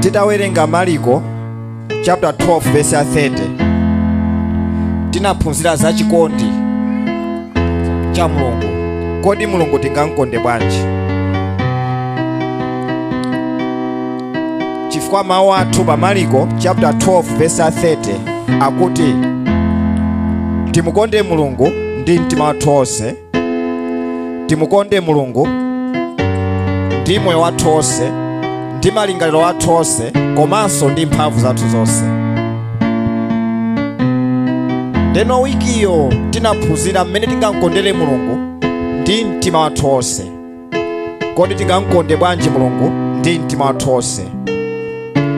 titawerenga mariko chapter 12 verse ya 30 tinaphunzira za chikondi cha mulungu kodi mulungu tingamkonde bwanji chifukwa mawu athu pa mariko chapter 12 verse ya 30 akuti timukonde mulungu ndi mtima wathu wonse timukonde mulungu ndi moyo wathu wonse ndi malingaliro athu onse komanso ndi mphamvu zathu zonse ndeno wikiyo tinaphunzira mmene tingamkondere mulungu ndi mtima wathu wonse kodi tingamkonde bwanji mulungu ndi mtima wathu wonse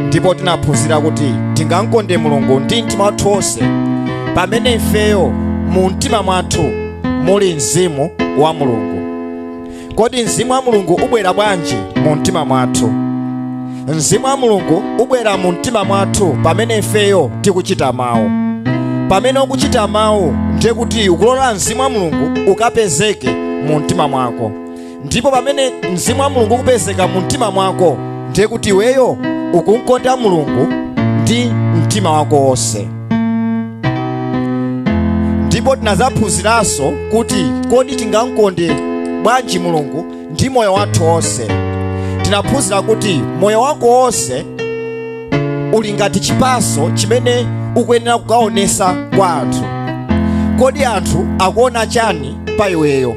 ndipo tinaphunzira kuti tingamkonde mulungu ndi mtima wathu wonse pamene ifeyo mu mtima mwathu muli mzimu wa mulungu kodi mzimu wa mulungu ubwera bwanji mu mtima mwathu mzimu wa mulungu ubwera mu mtima mwathu pamene ifeyo tikuchita mawu pamene ukuchita mawu ndiye kuti ukulola mzimu wa mulungu ukapezeke mu mtima mwako ndipo pamene mzimu wa mulungu ukupezeka mu mtima mwako ndiye kuti iweyo ukumkonda mulungu ndi mtima wako wonse ndipo tinazaphunziranso kuti kodi tingamkonde bwanji mulungu ndi moyo wathu wonse tinaphunzira kuti moyo wako wonse uli ngati chipaso chimene ukuyenera kukaonesa kwa anthu kodi anthu akuona chani pa iweyo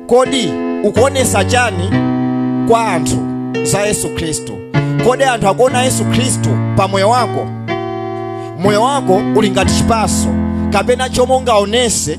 kodi ukuonesa chani kwa anthu za yesu khristu kodi anthu akuona yesu khristu pa moyo wako moyo wako uli ngati chipaso kapena chomwe ungaonese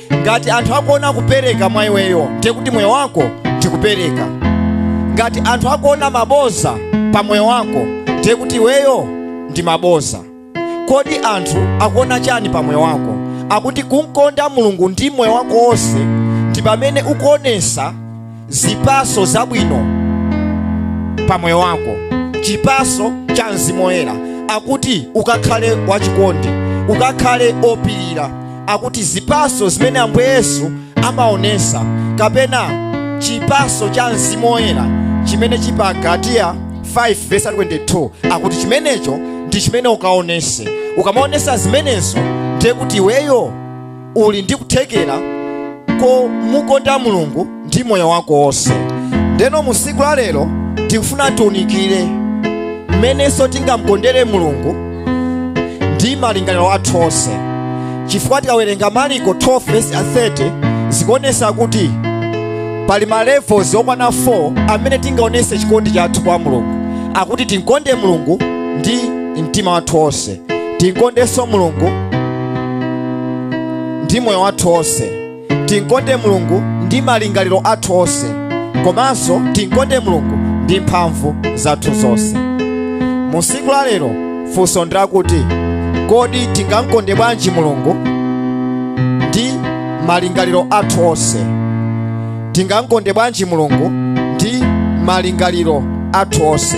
ngati anthu akuona kupereka mwa iweyo ndiye kuti moyo wako ndi kupereka ngati anthu akuona maboza pa moyo wako ndiye kuti iweyo ndi maboza kodi anthu akuona chani pa moyo wako akuti kumkonda mulungu ndi moyo wako wonse ndi pamene ukuonesa zipaso zabwino pa moyo wako chipaso cha mzimu woyera akuti ukakhale wachikondi ukakhale opirira akuti zipaso zimene ambuye yesu amaonesa kapena chipaso cha mzimu woyera chimene chili pa galatiya 5 verse 22 akuti chimenecho ndi chimene ukaonese ukamaonesa zimenezo ndiye kuti iweyo uli ndi kuthekera komukonda mulungu ndi moyo wako wonse ndeno mu siku la lero tikufuna tiunikire mmenenso tingamkondere mulungu ndi malingaliro athu onse chifukwa tikawerenga maliko 12 vesi a 30 zikuonesa kuti pali ma levels okwana 4 amene tingaonese chikondi chathu kwa mulungu akuti tinkonde mulungu ndi mtima wathu wonse tinkondenso mulungu ndi moyo wathu onse tinkonde mulungu ndi malingaliro athu onse komanso tinkonde mulungu ndi mphamvu zathu zonse mu siku la lero funso ndi lakuti kodi tingamkonde bwanji mulungu ndi malingaliro athu onse tingamkonde bwanji mulungu ndi malingaliro athu onse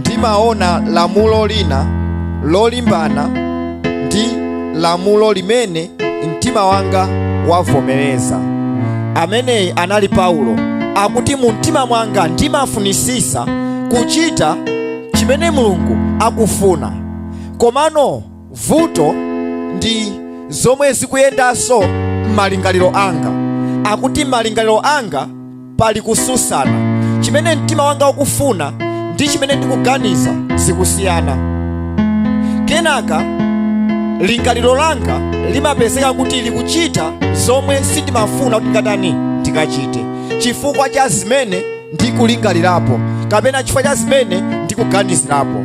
ndimaona lamulo lina lolimbana ndi lamulo limene mtima wanga wavomereza ameneyi anali paulo akuti mu mtima mwanga ndimafunisisa kuchita chimene mulungu akufuna komano vuto ndi zomwe zikuyendanso m'malingaliro anga akuti malingaliro anga pali kususana chimene mtima wanga ukufuna ndi chimene ndikuganiza zikusiyana kenaka lingaliro langa limapezeka kuti likuchita zomwe sindimafuna kuti ngatani ndikachite chifukwa cha zimene ndikulingalirapo kapena chifukwa cha zimene ndikuganizirapo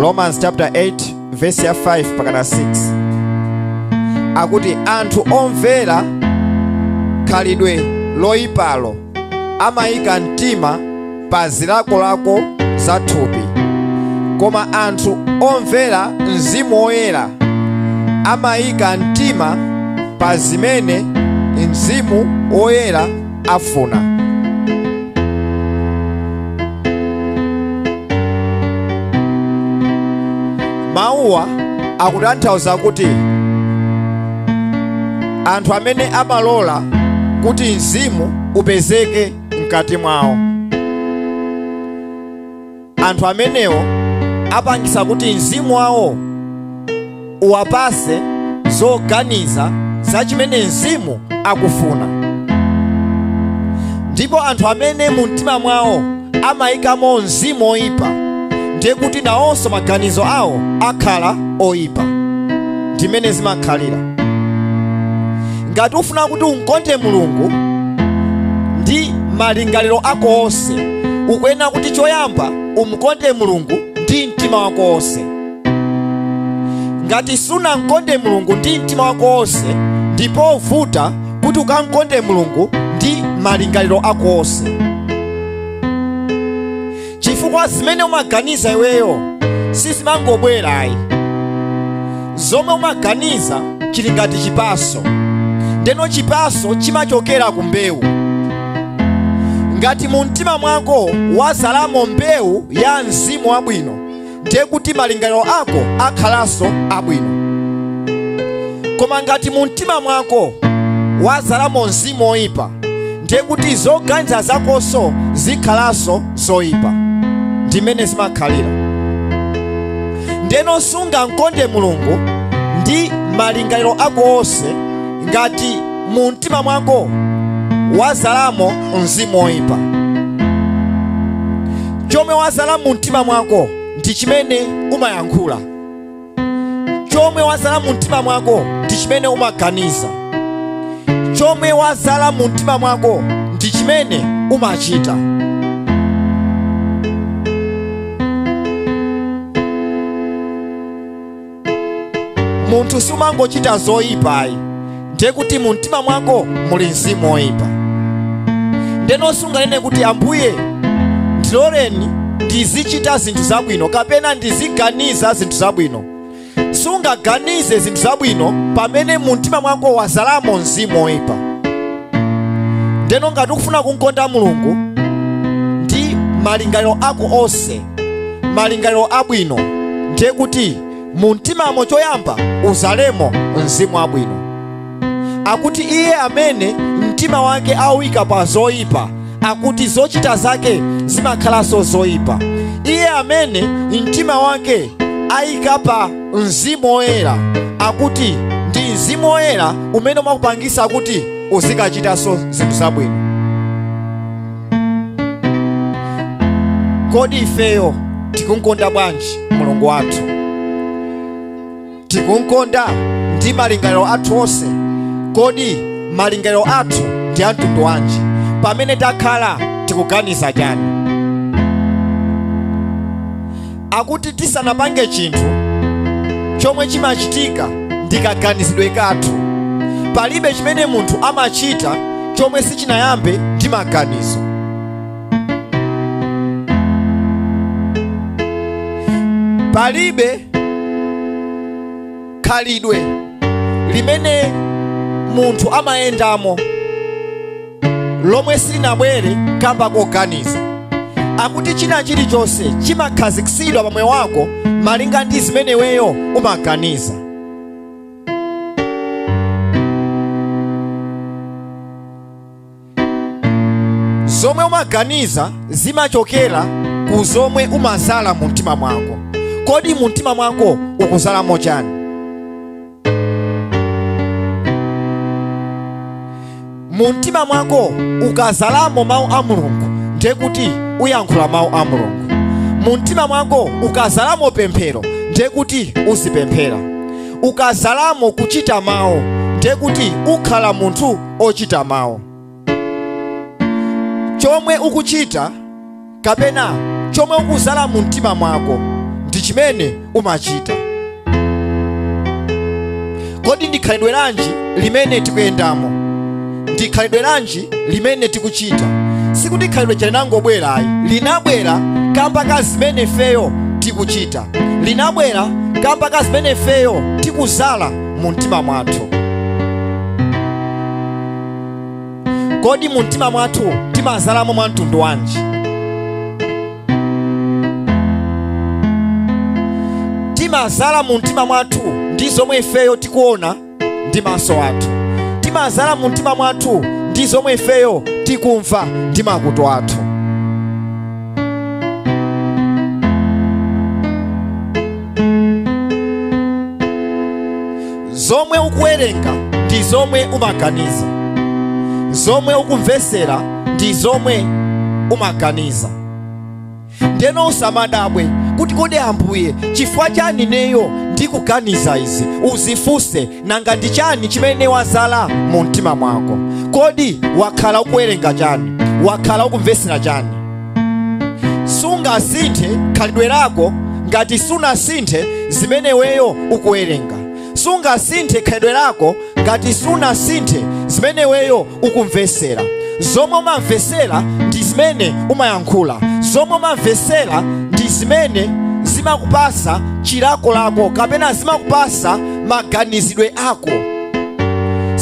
romans chapter 8 verse ya 5 mpakana 6 akuti anthu omvera khalidwe loyipalo amayika mtima pa zilakolako za thupi koma anthu omvera mzimu woyera amayika mtima pa zimene mzimu woyera afuna mawuwa akutanthauza kuti anthu amene amalola kuti mzimu upezeke mkati mwawo anthu amenewo apangisa kuti mzimu wawo uwapase zoganiza za chimene mzimu akufuna ndipo anthu amene mu mtima mwawo amayikamo mzimu oyipa ndiye kuti nawonso maganizo awo akhala oyipa ndimene zimakhalira ngati ufuna kuti umkonde mulungu ndi malingaliro ako onse ukuyenera kuti choyamba umkonde mulungu ndi mtima wako wonse ngati sunamkonde mulungu ndi mtima wako wonse ndi povuta kuti ukamkonde mulungu ndi malingaliro ako onse chifukwa zimene umaganiza iweyo sizimangobwera ayi zomwe umaganiza chili ngati chipaso ndeno chipaso chimachokera ku mbewu ngati mu mtima mwako wazalamo mbewu ya mzimu wabwino ndiye kuti malingaliro ako akhalanso abwino koma ngati mu mtima mwako wazalamo mzimu woyipa ndiye kuti zoganiza zakonso zikhalanso zoyipa ndimene zimakhalira ndeno sungamkonde mulungu ndi malingaliro ako onse ngati mu mtima mwako wazalamo mzimu woyipa chomwe wazala mu mtima mwako ndi chimene umayankhula chomwe wazala mu mtima mwako ndi chimene umaganiza chomwe wazala mu mtima mwako ndi chimene umachita munthu sumangochita zoyipa ayi ndiye kuti mu mtima mwako muli mzimu woyipa ndeno sunganene kuti ambuye ndiloleni ndizichita zinthu zabwino kapena ndiziganiza zinthu zabwino sungaganize zinthu zabwino pamene mu mtima mwako wazalamo mzimu woyipa ndeno ngati ukufuna kumkonda mulungu ndi malingaliro ako onse malingaliro abwino ndiye kuti mu mtimamo choyamba uzalemo mzimu wabwino akuti iye amene mtima wake awuika pa zoyipa akuti zochita zake zimakhalanso zoyipa iye amene mtima wake ayika pa mzimu woyera akuti ndi mzimu woyera umene umakupangisa kuti uzikachitanso zinthu zabwino kodi ifeyo tikumkonda bwanji mulungu wathu tikumkonda ndi malingaliro athu onse kodi malingaliro athu ndi amtundu wanji pamene takhala tikuganiza chani akuti tisanapange chinthu chomwe chimachitika ndi kaganizidwe kathu palibe chimene munthu amachita chomwe sichinayambe ndi maganizo palibe khalidwe limene munthu amayendamo lomwe silinabwere kamba koganiza akuti china chilichonse chimakhazikitsidwa pa moyo wako malinga ndi zimene iweyo umaganiza zomwe umaganiza zimachokera ku zomwe umazala mu mtima mwako kodi mu mtima mwako ukuzalamo chani mu mtima mwako ukazalamo mawu a mulungu ndiye kuti uyankhula mawu a mulungu mu mtima mwako ukazalamo pemphero ndiye kuti uzipemphera ukazalamo kuchita mawu ndiye kuti ukhala munthu ochita mawu chomwe ukuchita kapena chomwe ukuzala mu mtima mwako ndi chimene umachita kodi ndi khalidwe lanji limene tikuyendamo ndi khalidwe lanji limene tikuchita sikuti khalidweli linangobwera ayi linabwera kamba ka zimene ifeyo tikuchita linabwera kamba ka zimene ifeyo tikuzala mu mtima mwathu kodi mu mtima mwathu timazalamo mwa mtundu wanji timazala mu mtima mwathu ndi zomwe ifeyo tikuona ndi maso athu timazala mu mtima mwathu ndi zomwe ifeyo tikumva ndi makutu athu zomwe ukuwerenga ndi zomwe umaganiza zomwe ukumvesera ndi zomwe umaganiza ndeno usamadabwe kuti kodi ambuye chifukwa chani neyo ndikuganiza izi uzifunse nanga ndi chani chimene wazala mu mtima mwako kodi wakhala ukuwerenga chani wakhala ukumvesera chani sungasinthe khalidwe lako ngati sunasinthe zimene weyo ukuwerenga sungasinthe khalidwe lako ngati sunasinthe zimene weyo ukumvesera zomwe umamvesera ndi zimene umayankhula zomwe umamvesera ndi zimene zimakupasa chilakolako kapena zimakupasa maganizidwe ako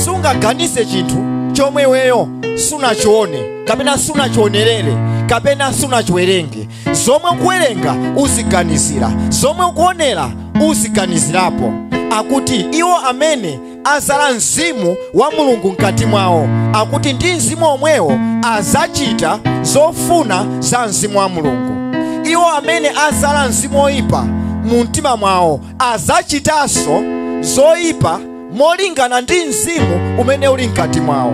sungaganize chinthu chomwe weyo sunachione kapena sunachionerere kapena sunachiwerenge zomwe ukuwerenga uziganizira zomwe ukuonera uziganizirapo akuti iwo amene azala mzimu wa mulungu mkati mwawo akuti ndi mzimu omwewo azachita zofuna za mzimu wa mulungu iwo amene azala mzimu oyipa mu mtima mwawo azachitanso zoyipa molingana ndi mzimu umene uli mkati mwawo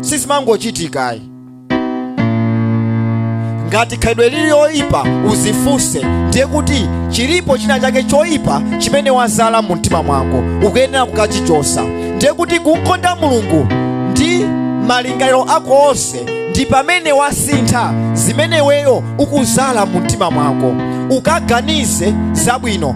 sizimangochitikayi ngati khalidwe lili yoyipa uzifunse ndiye kuti chilipo china chake choyipa chimene wazala mu mtima mwako ukuyenera kukachichosa ndiye kuti kumkonda mulungu ndi malingaliro ako onse ndi pamene wasintha zimene weyo ukuzala mu mtima mwako ukaganize zabwino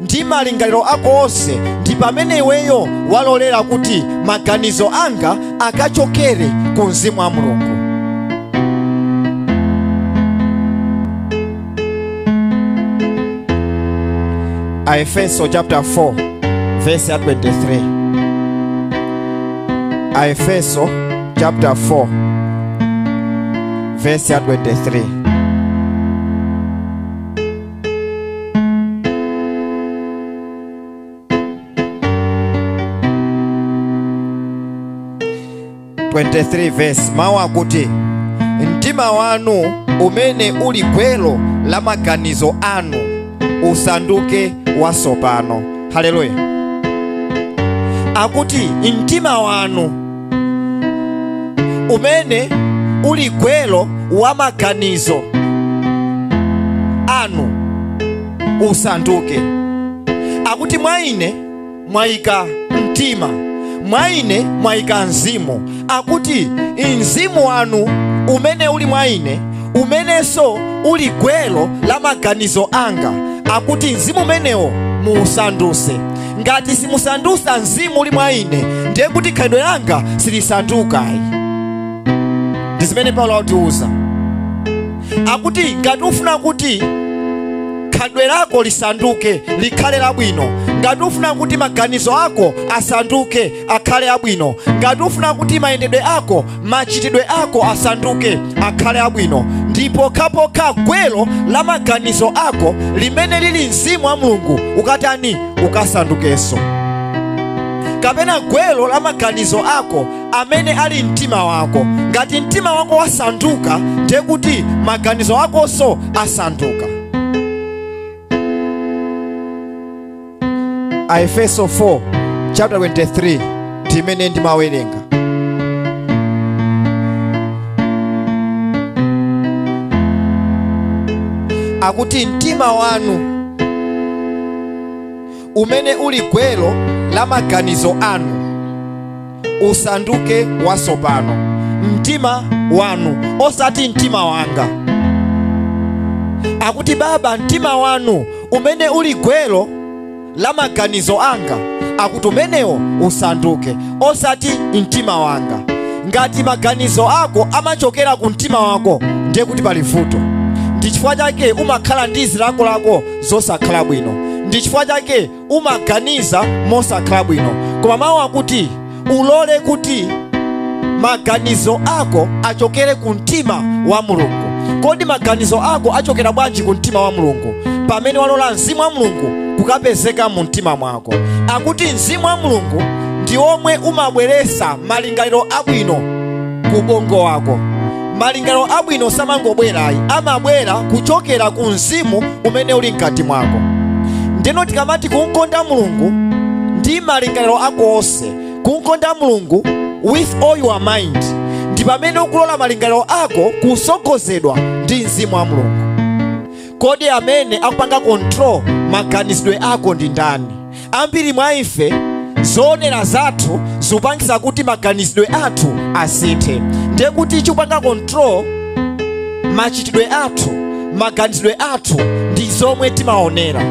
ndi malingaliro ako onse ndi pamene iweyo walolera kuti maganizo anga akachokere ku mzimu wa mulungu aefeso chapter 4 verse ya 23 aefeso chapter 4 verse ya 23 23 verse mawu akuti mtima wanu umene uli gwero la maganizo anu usanduke wasopano haleluya akuti mtima wanu umene uli gwero wa maganizo anu usanduke akuti mwa ine mwayika mtima mwa ine mwayika mzimu akuti mzimu wanu umene uli mwa ine umenenso uli gwero la maganizo anga akuti mzimu umenewo muusanduse ngati simusandusa mzimu uli mwa ine ndiye kuti khalidwe langa silisandukayi ndi zimene paulo akutiuza akuti ngati ufuna kuti khalidwe lako lisanduke likhale labwino ngati ufuna kuti maganizo ako asanduke akhale abwino ngati ufuna kuti mayendedwe ako machitidwe ako asanduke akhale abwino ndi pokhapokha gwero la maganizo ako limene lili mzimu wa mulungu ukatani ukasandukenso kapena gwero la maganizo ako amene ali mtima wako ngati mtima wako wasanduka ndiye kuti maganizo akonso asanduka aefeso 4 chapter 23 timene ndimawerenga akuti mtima wanu umene uli gwero la maganizo anu usanduke wasopano mtima wanu osati mtima wanga akuti baba mtima wanu umene uli gwero la maganizo anga akuti umenewo usanduke osati mtima wanga ngati maganizo ako amachokera ku mtima wako ndiye kuti pali vuto ndi chifukwa chake umakhala ndi zilakolako zosakhala bwino ndi chifukwa chake umaganiza mosakhala bwino koma mawu akuti ulole kuti maganizo ako achokere ku mtima wa mulungu kodi maganizo ako achokera bwanji ku mtima wa mulungu pamene walola mzimu wa mulungu kukapezeka mu mtima mwako akuti mzimu wa mulungu ndi omwe umabweresa malingaliro abwino ku bongo wako malingaliro abwino samangobwera ayi amabwera kuchokera ku mzimu umene uli mkati mwako ndiyeno tikamati kumkonda mulungu ndi malingaliro ako onse kumkonda mulungu with all your mind ndi pamene ukulola malingaliro ako kusogozedwa ndi mzimu wa mulungu kodi amene akupanga control maganizidwe ako ndi ndani ambiri mwa ife zoonera zathu zikupangisa kuti maganizidwe athu asinthe ndiye kuti chikupanga control machitidwe athu maganizidwe athu ndi zomwe timaonera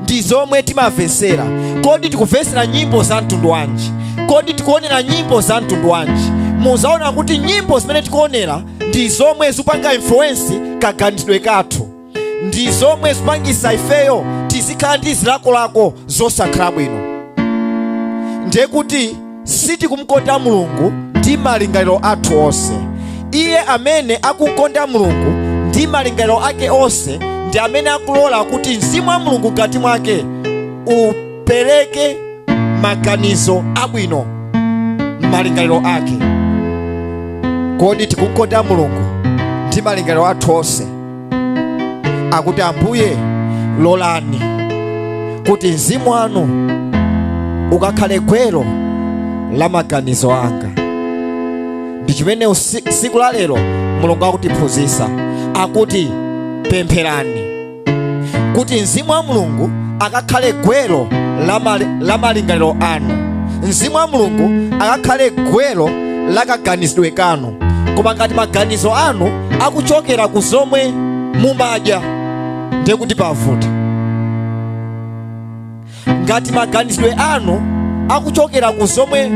ndi zomwe timavesera kodi tikuvesera nyimbo za mtundu wanji kodi tikuonera nyimbo za mtundu wanji muzaona kuti nyimbo zimene tikuonera ndi zomwe zikupanga influence kaganizidwe kathu ndi zomwe zikupangisa ifeyo tizikhala ndi zilakolako zosakhala bwino ndiye kuti sitikumkonda mulungu ndi malingaliro athu onse iye amene akumkonda mulungu ndi malingaliro ake onse ndi amene akulola kuti mzimu wa mulungu mkati mwake u pereke maganizo abwino m'malingaliro ake kodi tikumkonda mulungu ndi malingaliro athu onse akuti ambuye lolani kuti mzimu wanu ukakhale gwero la maganizo anga ndi chimene siku la lero mulungu akutiphunzisa akuti pempherani kuti mzimu wa mulungu akakhale gwero la malingaliro anu mzimu wa mulungu akakhale gwero la kaganizidwe kanu koma ngati maganizo anu akuchokera ku zomwe mumadya ndiye kuti pavuta ngati maganizidwe anu akuchokera ku zomwe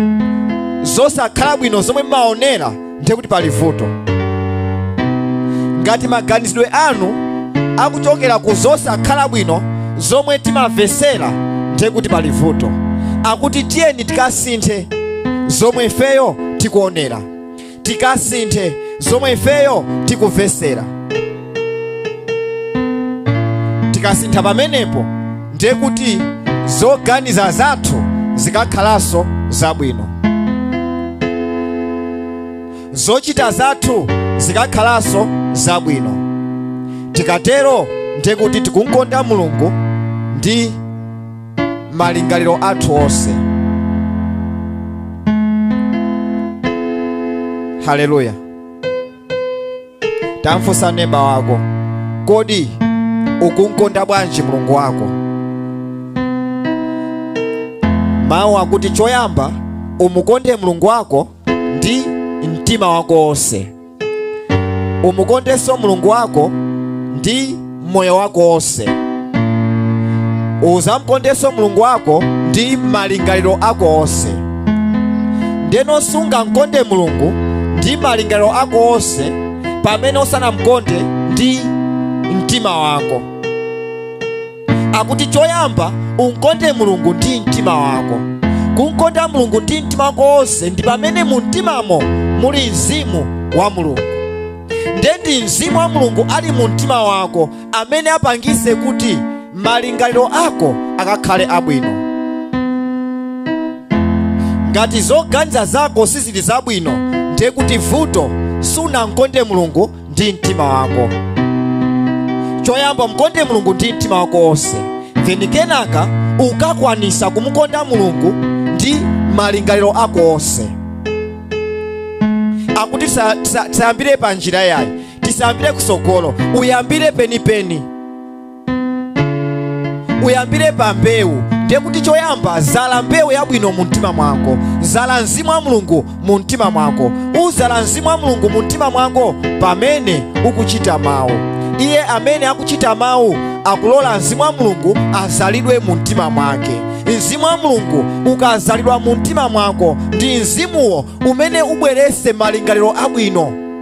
zosakhala bwino zomwe mmaonera ndiye kuti pali vuto ngati maganizidwe anu akuchokera ku zosakhala bwino zomwe timamvesera ndiye kuti pali vuto akuti tiyeni tikasinthe zomwe ifeyo tikuonera tikasinthe zomwe ifeyo tikuvesera tikasintha pamenepo ndiye kuti zoganiza zathu zikakhalanso zabwino zochita zathu zikakhalanso zabwino tikatero ndiye kuti tikumkonda mulungu ndi malingaliro athu onse haleluya tamfunsa neba wako kodi ukumkonda bwanji mulungu wako mawu akuti choyamba umukonde mulungu wako ndi mtima wako wonse umukondenso mulungu wako ndi moyo wako wonse uzamukondenso mulungu wako ndi malingaliro ako onse ndeno sungamkonde mulungu ndi malingaliro ako onse pamene usanamkonde ndi mtima wako akuti choyamba umkonde mulungu ndi mtima wako kumkonda mulungu ndi mtima wako wonse ndi pamene mu mtimamo muli mzimu wa mulungu nde ndi mzimu wa mulungu ali mu mtima wako amene apangise kuti malingaliro ako akakhale abwino ngati zoganiza zako sizili zabwino ndiye kuti vuto sunamkonde mulungu ndi mtima wako choyamba mkonde mulungu ndi mtima wako wonse then kenaka ukakwanisa kumukonda mulungu ndi malingaliro ako onse akuti tisa- tisa- tisayambire pa njira yayi tisayambire kusogolo uyambire penipeni uyambire pa mbewu ndiye kuti choyamba zala mbewu yabwino mu mtima mwako zala mzimu wa mulungu mu mtima mwako uzala mzimu wa mulungu mu mtima mwako pamene ukuchita mawu iye amene akuchita mawu akulola mzimu wa mulungu azalidwe mu mtima mwake mzimu wa mulungu ukazalidwa mu mtima mwako ndi mzimuwo umene ubwerese malingaliro abwino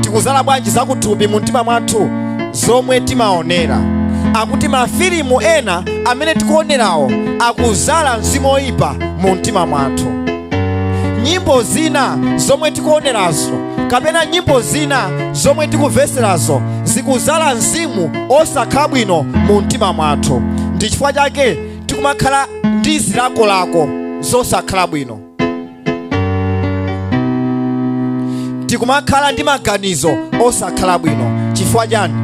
tikuzala bwanji zakuthupi mu mtima mwathu zomwe timaonera akuti mafilimu ena amene tikuonerawo akuzala mzimu oyipa mu mtima mwathu nyimbo zina zomwe tikuonerazo kapena nyimbo zina zomwe tikuveserazo zikuzala mzimu osakhala bwino mu mtima mwathu ndi chifukwa chake tikumakhala ndi zilakolako zosakhala bwino tikumakhala ndi maganizo osakhala bwino chifukwa chani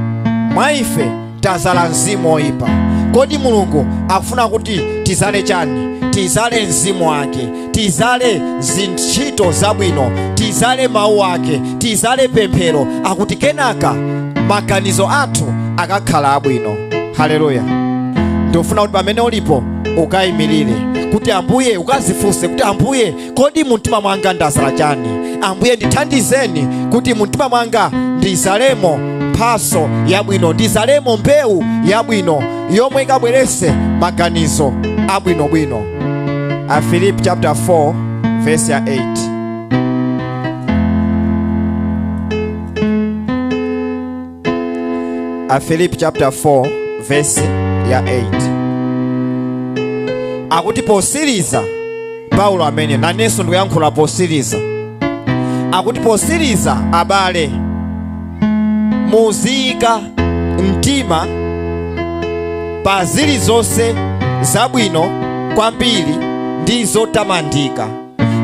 mwa ife tazala mzimu oyipa kodi mulungu akufuna kuti tizale chani tizale mzimu wake tizale zintchito zabwino tizale mawu ake tizale pemphero kuti kenaka maganizo athu akakhala abwino haleluya ndikufuna kuti pamene ulipo ukayimirire kuti ambuye ukazifunse kuti ambuye kodi mumtima mwanga ndazala chani ambuye ndithandizeni kuti mumtima mwanga ndizalemo mphaso yabwino ndizalemo mbewu yabwino yomwe ikabwerese maganizo abwinobwino afilipi chapter 4 verse ya 8 afilipi chapter 4 verse ya 8 akuti posiriza paulo amene nanenso ndikuyankhula posiriza akuti posiriza abale muziyika mtima pa zilizonse zabwino kwambiri ndi zotamandika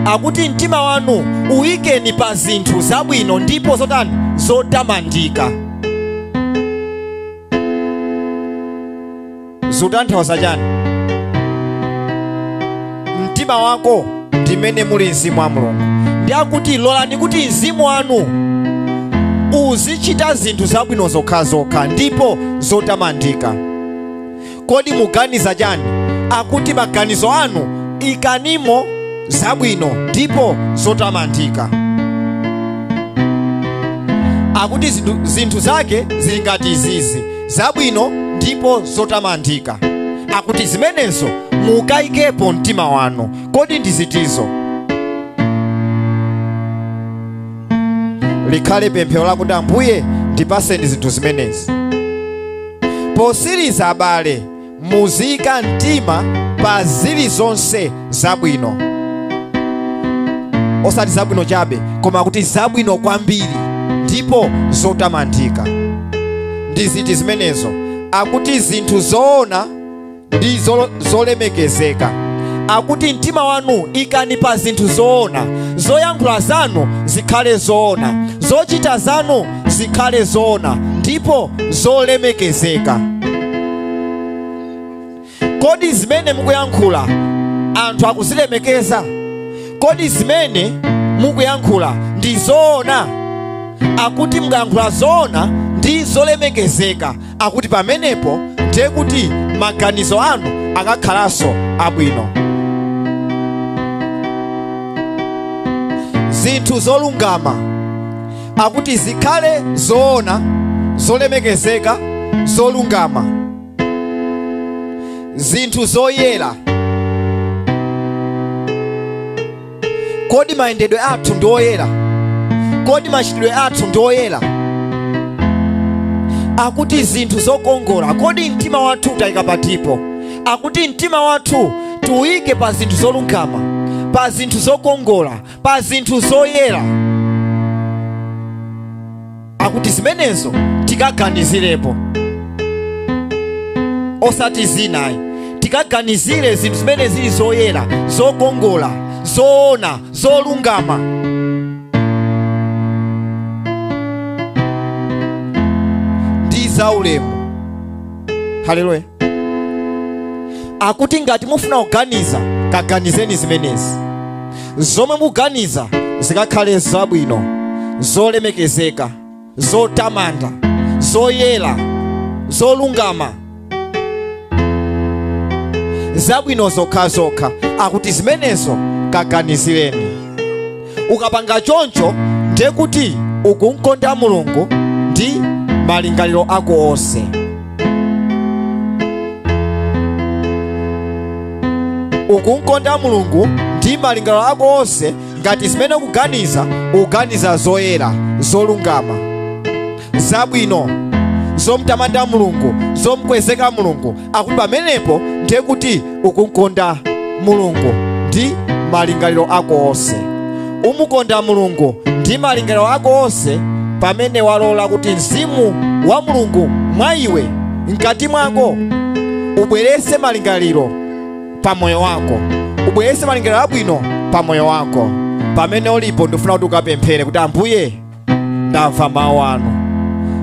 akuti mtima wanu uyikeni pa zinthu zabwino ndipo zotani zotamandika zutanthauza chani mtima wako ndimene muli mzimu wa mulungu ndi akuti lolani kuti mzimu wanu uzichita zinthu zabwino zokhazokha ndipo zotamandika kodi muganiza chani akuti maganizo anu ikanimo zabwino ndipo zotamandika akuti zinthu zake zili ngati izizi zabwino ndipo zotamandika akuti zimenezo mukayikepo mtima wanu kodi ndi ziti zo likhale pemphero lakuti ambuye ndipaseni zinthu zimenezi Posiriza abale, muziyika mtima pa zilizonse zabwino, osati zabwino chabe, koma kuti zabwino kwambiri ndipo zotamandika. Ndi ziti zimenezo? Akuti zinthu zoona, ndi zolemekezeka akuti mtima wanu ikani pa zinthu zoona zoyankhula zanu zikhale zoona zochita zanu zikhale zoona ndipo zolemekezeka kodi zimene mukuyankhula anthu akuzilemekeza kodi zimene mukuyankhula ndi zoona akuti mukayankhula zoona ndi zolemekezeka akuti pamenepo ndiye kuti maganizo anu akakhalanso abwino zinthu zolungama akuti zikhale zoona zolemekezeka zolungama zinthu zoyera Kodi mayendedwe athu ndi oyera? Kodi machitidwe athu ndi oyera? Akuti zinthu zokongola, kodi mtima wathu tauyika patipo? Akuti mtima wathu tiuyike pa zinthu zolungama, pa zinthu zokongola, pa zinthu zoyera. akuti zimenezo tikaganizirepo osati zinazi tikaganizire zinthu zimene zili zoyera zokongola zoona zolungama ndi zaulemu haleluya akuti ngati mufuna kuganiza kaganizeni zimenezi zomwe muganiza zikakhale zabwino zolemekezeka zotamanda zoyera zolungama zabwino zokhazokha akuti zimenezo kaganizireni ukapanga choncho ndiye kuti ukumkonda mulungu ndi malingaliro ako onse ukumkonda mulungu ndi malingaliro ako onse ngati zimene ukuganiza ukuganiza zoyera zolungama zabwino zomtamanda mulungu zomkwezeka mulungu akuti pamenepo ndiye kuti ukumkonda mulungu ndi malingaliro ako onse umukonda mulungu ndi malingaliro ako onse pamene walola kuti mzimu wa mulungu mwa iwe mkati mwako ubweretse malingaliro pa moyo wako ubweretse malingaliro abwino pa moyo wako pamene ulipo ndifuna kuti ukapemphere kuti ambuye ndamva mawu anu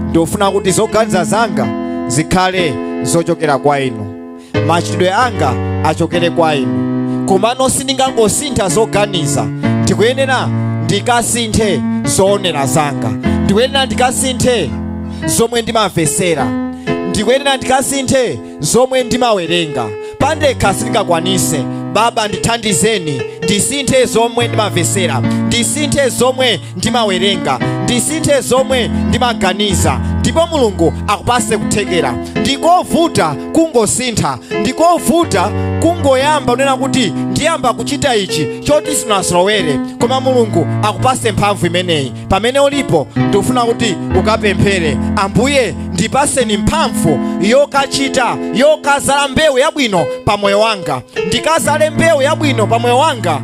ndifuna kuti zoganiza zanga zikhale zochokera kwa inu machitidwe anga achokere kwa inu komano sindingangosintha zoganiza ndikuyenera ndikasinthe zoonera zanga ndikuyenera ndikasinthe zomwe ndimamvetsera ndikuyenera ndikasinthe zomwe ndimawerenga pandekha sindingakwanise baba ndithandizeni ndisinthe zomwe ndimamvetsera ndisinthe zomwe ndimawerenga ndisinthe zomwe ndimaganiza ndipo mulungu akupatse kuthekera ndikovuta kungosintha ndikovuta kungoyamba kunena kuti ndiyamba kuchita ichi choti sunazolowere koma mulungu akupatse mphamvu imeneyi pamene ulipo ndikufuna kuti ukapemphere ambuye ndipatseni mphamvu yokachita yokazala mbewu yabwino pa moyo wanga ndikazale mbewu yabwino pa moyo wanga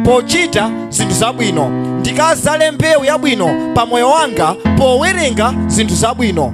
pochita zinthu zabwino ndikazale mbewu yabwino pa moyo wanga powerenga zinthu zabwino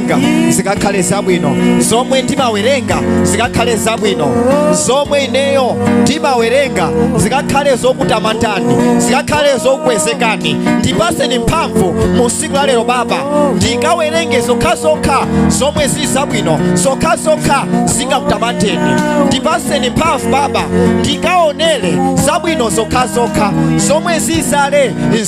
ndimawerenga zikakhale zabwino zomwe ndimawerenga zikakhale zabwino zomwe ineyo ndimawerenga zikakhale zokutamandani zikakhale zokukwezekani ndipatseni mphamvu mu tsiku la lero baba ndikawerenge zokhazokha zomwe zili zabwino zokhazokha zingakutamandeni ndipatseni mphamvu baba ndikaonere zabwino zokhazokha zomwe zizale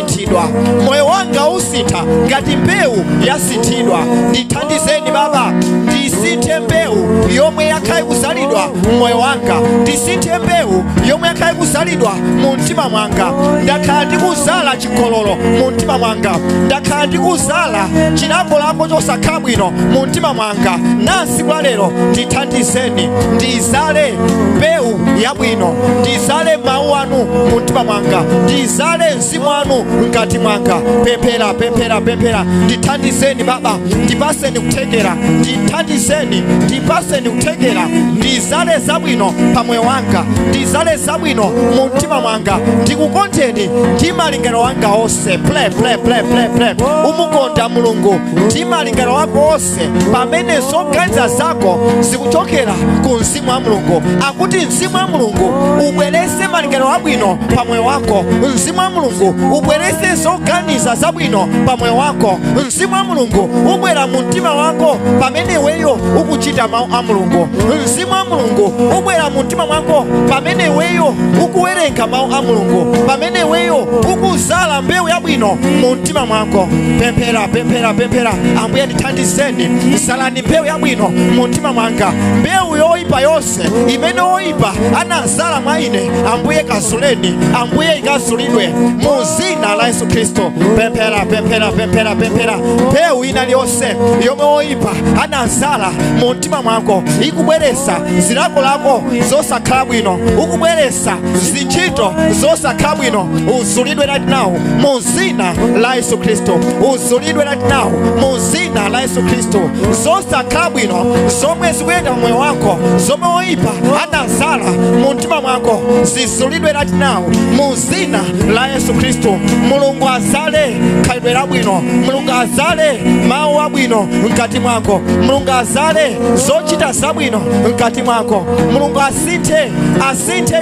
yasinthidwa moyo wanga usintha ngati mbewu yasinthidwa ndithandizeni baba ndisinthe mbewu yomwe yakhala ikuzalidwa mmoyo wanga ndisinthe mbewu yomwe yakhala ikuzalidwa mu mtima mwanga ndakhala ndikuzala chigololo mu mtima mwanga ndakhala ndikuzala chilakolako chosakhala bwino mu mtima mwanga nansi tsiku la lero ndithandizeni ndizale mbewu yabwino ndizale mawu anu mu mtima mwanga ndizale mzimu wanu mkati mwanga pemphera pemphera pemphera ndithandizeni baba ndipatseni kuthekera ndithandizeni ndipatseni kuthekera ndizale zabwino pa moyo wanga ndizale zabwino mu mtima mwanga ndikukondeni ndi malingaliro anga onse pray pray pray pray pray umukonda mulungu ndi malingaliro ako onse zonse pamene zoganiza zako zikuchokera ku mzimu wa mulungu akuti mzimu wa mulungu ubweretse malingaliro abwino pa moyo wako mzimu wa mulungu ubweretse zoganiza zabwino pa moyo wako mzimu wa mulungu ubwera mu mtima wako pamene iweyo ukuchita mawu a mulungu mzimu wa mulungu ubwera mu mtima mwako pamene iweyo ukuwerenga mawu a mulungu pamene iweyo ukuzala mbewu yabwino mu mtima mtima mwako pemphera pemphera pemphera ambuye ndithandizeni zalani mbewu yabwino mu mtima mwanga mbewu yoyipa yonse imene woyipa anazala mwa ine ambuye kazuleni ambuye ikazulidwe mu zina la yesu khristu pemphera pemphera pemphera pemphera mbewu ina liyonse yomwe woyipa anazala mu mtima mwako ikubweresa zilakolako zosakhala bwino ukubweresa zi- ntchito zosakhala bwino uzulidwe right now mu zina la yesu khristu uzulidwe right now mu zina la yesu khristu zosakhala bwino zomwe zikuyenda mu moyo wako zomwe oyipa anazala mu mtima mwako zizulidwe right now mu zina la yesu khristu mulungu azale khalidwe labwino mulungu azale mawu abwino mkati mwako mulungu azale zochita zabwino mkati mwako mulungu azale asinthe asinthe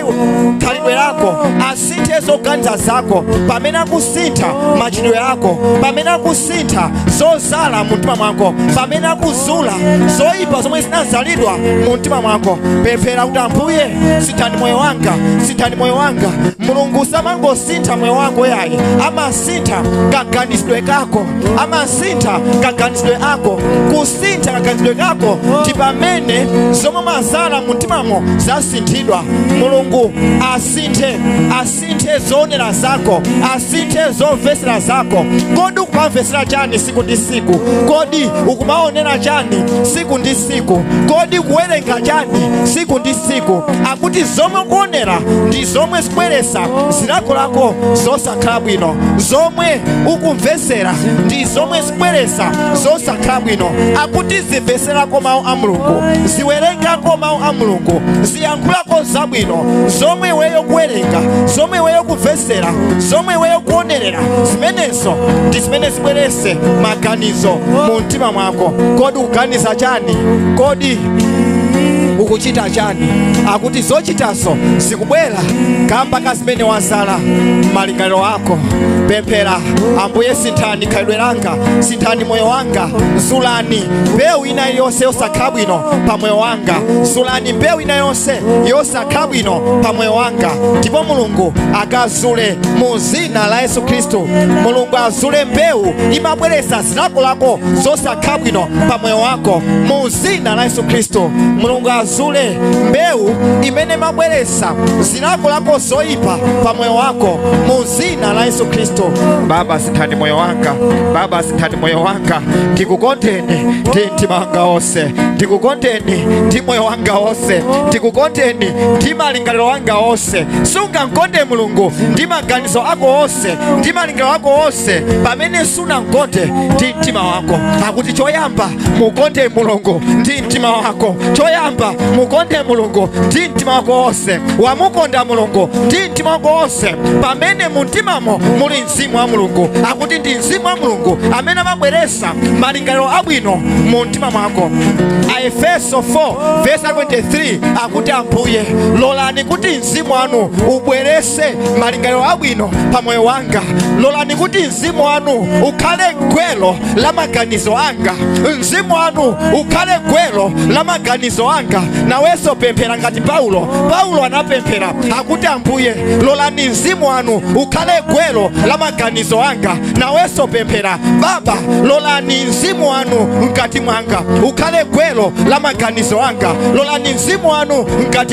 khalidwe lako asinthe zoganiza zako pamene akusintha machitidwe ako pamene akusintha zozala mu mtima mwako pamene akuzula zoyipa zomwe zinazalidwa mu mtima mwako pemphera kuti ambuye sinthani moyo wanga sinthani moyo wanga mulungu samangosintha moyo wako yayi ama amasintha kaganizidwe kako amasintha kaganizidwe ako kusintha kaganizidwe kako ndi pamene zomwe mazala mu mtimamo zasinthidwa mulungu asinthe asinthe zoonera zako asinthe zomvesera zako kodi ukumamvesera chani siku ndi siku kodi ukumaonera chani siku ndi siku kodi kuwerenga chani siku ndi siku akuti zomwe kuonera ndi zomwe zikubweresa zilakolako zosa zosakhala bwino zomwe ukumvetsera ndi zomwe zikubweretsa zosakhala bwino akuti zimvetserako mawu a mulungu ziwerengako mawu a mulungu ziyankhulako zabwino zomwe iweyo kuwerenga zomwe iweyo kumvetsera zomwe iweyo kuonerera zimenezo ndi zimene zibweretse maganizo mu mtima mwako kodi ukuganiza chani kodi ukuchita chani akuti zochitazo kubwera kamba ka zimene wazala m'malingaliro ako pemphera ambuye sinthani khalidwe langa sinthani moyo wanga zulani mbewu ina yonse yosakhala bwino pa moyo wanga zulani mbewu ina yonse yosakhala bwino pa moyo wanga ndipo mulungu akazule mu zina la yesu khristu mulungu azule mbewu imabweretsa zilakolako zosakhala bwino pa moyo wako mu zina la yesu khristu mulungu azule mbewu imene imabweretsa zilakolako zoyipa pa moyo wako mu zina la yesu khristu baba sinthani moyo wanga baba sinthani moyo wanga ndikukondeni ndi mtima wanga wonse ndikukondeni ndi moyo wanga wonse ndikukondeni ndi malingaliro wanga wonse sungankonde mulungu ndi maganizo ako wonse ndi malingaliro ako wonse pamene sunamkonde ndi mtima wako akuti choyamba mukonde mulungu ndi mtima wako choyamba mukonde mulungu ndi mtima wako wonse wamukonda mulungu ndi mtima wako wonse pamene mu mtimamo muli mzimu wa mulungu akuti ndi mzimu wa mulungu amene amabweresa malingaliro abwino mu mtima mwako aefeso 4 vesi 23 akuti ambuye lolani kuti mzimu wanu ubwerese malingaliro abwino pa moyo wanga lolani kuti mzimu wanu ukhale gwelo la maganizo anga mzimu wanu ukhale gwelo la maganizo anga nawenso pemphera ngati paulo paulo anapemphera akuti ambuye lolani mzimu wanu ukhale gwelo la maganizo anga nawenso pemphera baba lolani mzimu wanu mkati mwanga ukhale gwelo la maganizo anga lolani mzimu wanu mkati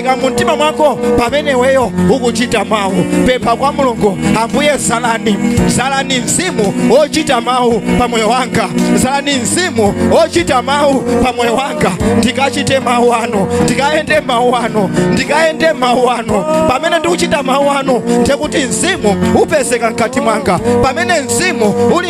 ika mu mtima mwako pamene iweyo ukuchita mawu pempha kwa mulungu ambuye zalani zalani mzimu ochita mawu pa moyo wanga zalani mzimu ochita mawu pa moyo wanga ndikachite mawu anu ndikayende mawu anu ndikayende mawu anu pamene ndikuchita mawu anu ndekuti mzimu upezeka mkati mwanga pamene mzimu uli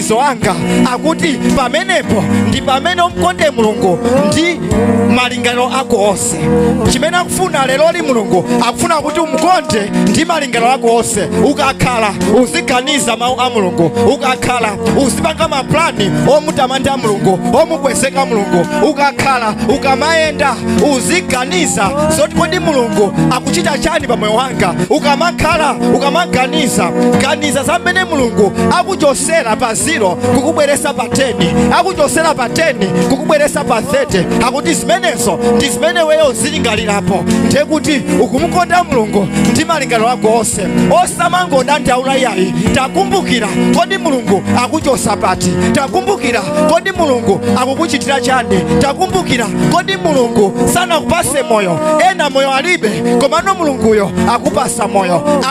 maganizo anga akuti pamenepo ndi pamene umkonde mulungu ndi malingaliro ako onse chimene akufuna leroli mulungu akufuna kuti umkonde ndi malingaliro ako onse ukakhala uziganiza mawu a mulungu ukakhala uzipanga maplani omutamanda mulungu omukwezeka mulungu ukakhala ukamayenda uziganiza zoti kodi mulungu akuchita chani pa moyo wanga ukamakhala ukamaganiza ganiza za mmene mulungu aku akuchosera pa 0 kukubweresa pa 10 akuchosera pa 10 kukubweresa pa 30 akuti zimenezo ndi zimene weyo uzilingalirapo ndiye kuti ukumukonda mulungu ndi malingaliro ako onse osamangodandaula yayi takumbukira kodi mulungu akuchosa pati takumbukira kodi mulungu akukuchitira chani takumbukira kodi mulungu sanakupase moyo ena moyo alibe komano mulunguyo akupasa moyo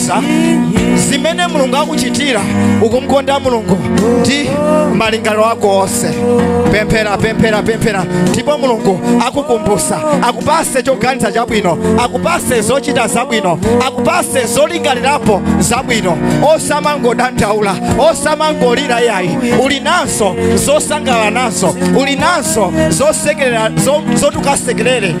uganiza zimene mulungu akuchitira ukumkonda mulungu ndi malingaliro ako onse pemphera pemphera pemphera ndipo mulungu akukumbusa akupase choganiza chabwino akupase zochita zabwino akupase zolingalirapo zabwino osamangodandaula osamangolira yayi uli nazo zosangalala nazo uli nazo zosekerera zo- zotukasekerere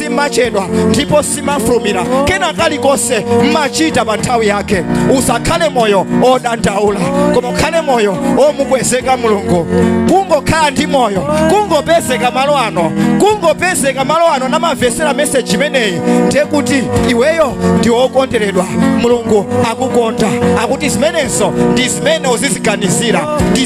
simachedwa ndipo simafulumira kena kalikonse mmachita pa nthawi yake usakhale moyo odandaula koma ukhale moyo omukwezeka mulungu kungokhala ndi moyo kungopezeka malo ano kungopezeka malo ano namavesera meseji imeneyi ndiye kuti iweyo ndi wokonderedwa mulungu akukonda akuti zimenezo ndi zimene uziziganizira ndi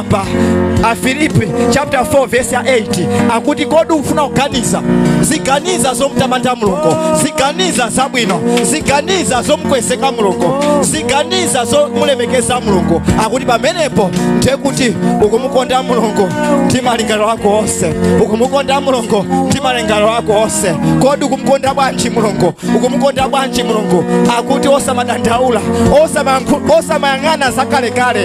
apa afilipi chapter 4 verse 8 akuti kodi ufuna kuganiza ziganiza zomtamanda mulungu ziganiza zabwino ziganiza zomkwezeka mulungu ziganiza zomulemekeza mulungu akuti pamenepo ndiye kuti ukumukonda mulungu ndi malingaliro ako onse ukumukonda mulungu ndi malingaliro ako onse kodi ukumukonda bwanji mulungu ukumukonda bwanji mulungu akuti osamadandaula osamayang'ana zakalekale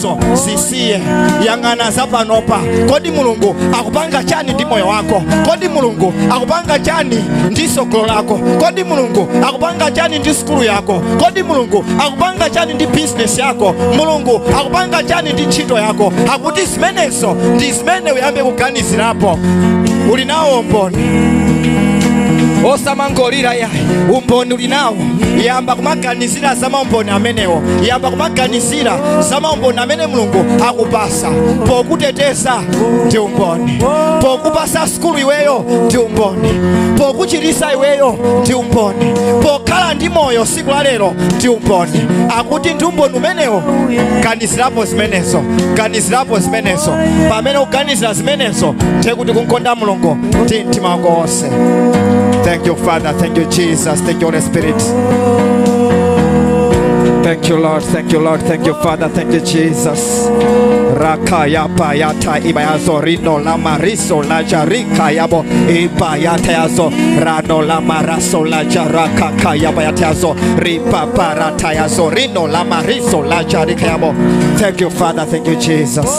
zimenezo zisiye yang'ana za panopa kodi mulungu akupanga chani ndi moyo wako kodi mulungu akupanga chani ndi sogolo lako kodi mulungu akupanga chani ndi sukulu yako kodi mulungu akupanga chani ndi bizinesi yako mulungu akupanga chani ndi ntchito yako akuti zimenezo ndi zimene uyambe kuganizirapo uli nawo umboni osamangolira yayi umboni uli nawo yamba kumaganizira za maumboni amenewo yamba kumaganizira kumaganizira za maumboni amene mulungu akupasa pokuteteza ndi umboni pokupasa sukulu iweyo ndi umboni pokuchirisa iweyo ndi umboni pokhala ndi moyo siku la lero ndi umboni akuti ndi umboni umenewo ganizirapo zimenezo ganizirapo zimenezo pamene uganizira zimenezo ndiye kuti kumkonda mulungu ndi mtima wako wonse Thank you, Father. Thank you, Jesus. Thank you, Holy Spirit. Thank you, Lord. Thank you, Lord. Thank you, Father. Thank you, Jesus. Rakaya payata ibayazo rino la mariso la jarika yabo ibayata yazo rano la maraso la jaraka kaya bayata yazo ripa parata yazo rino la mariso la jarika yabo. Thank you, Father. Thank you, Jesus.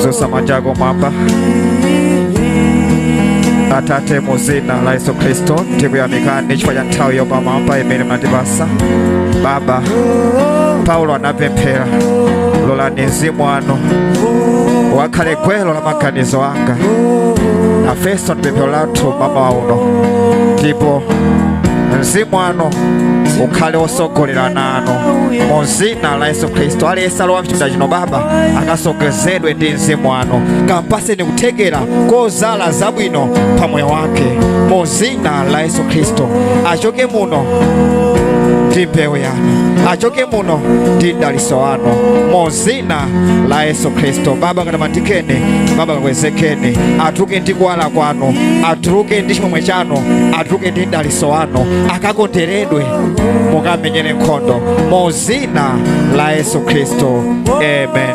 Dzusa manja ako mwamba. Atate mu dzina la Yesu Kristo tikuyamikani chifukwa cha nthawi yopamwamba imene munatipasa. Baba, Paulo anapemphera lolani mzimu wanu ukhale gwero la maganizo anga. Afeso ndipemphero lathu mmawa uno ndipo mzimu wanu ukhale wotsogolera nawo. anu mu dzina la yesu khristu aliyense alowa mchipinda chino baba akasogozedwe ndi mzimu wanu kampaseni kuthekera kozala zabwino pa moyo wake mu dzina la yesu khristu achoke muno ndi mbewu yanu achoke muno ndi mdaliso wanu mu dzina la yesu khristu baba katamandikeni baba kakwezekeni atuluke ndi kuwala kwanu atuluke ndi chimwemwe chanu atuluke ndi mdali so wanu akakonderedwe mukam'menyere nkhondo mu dzina la yesu khristu amen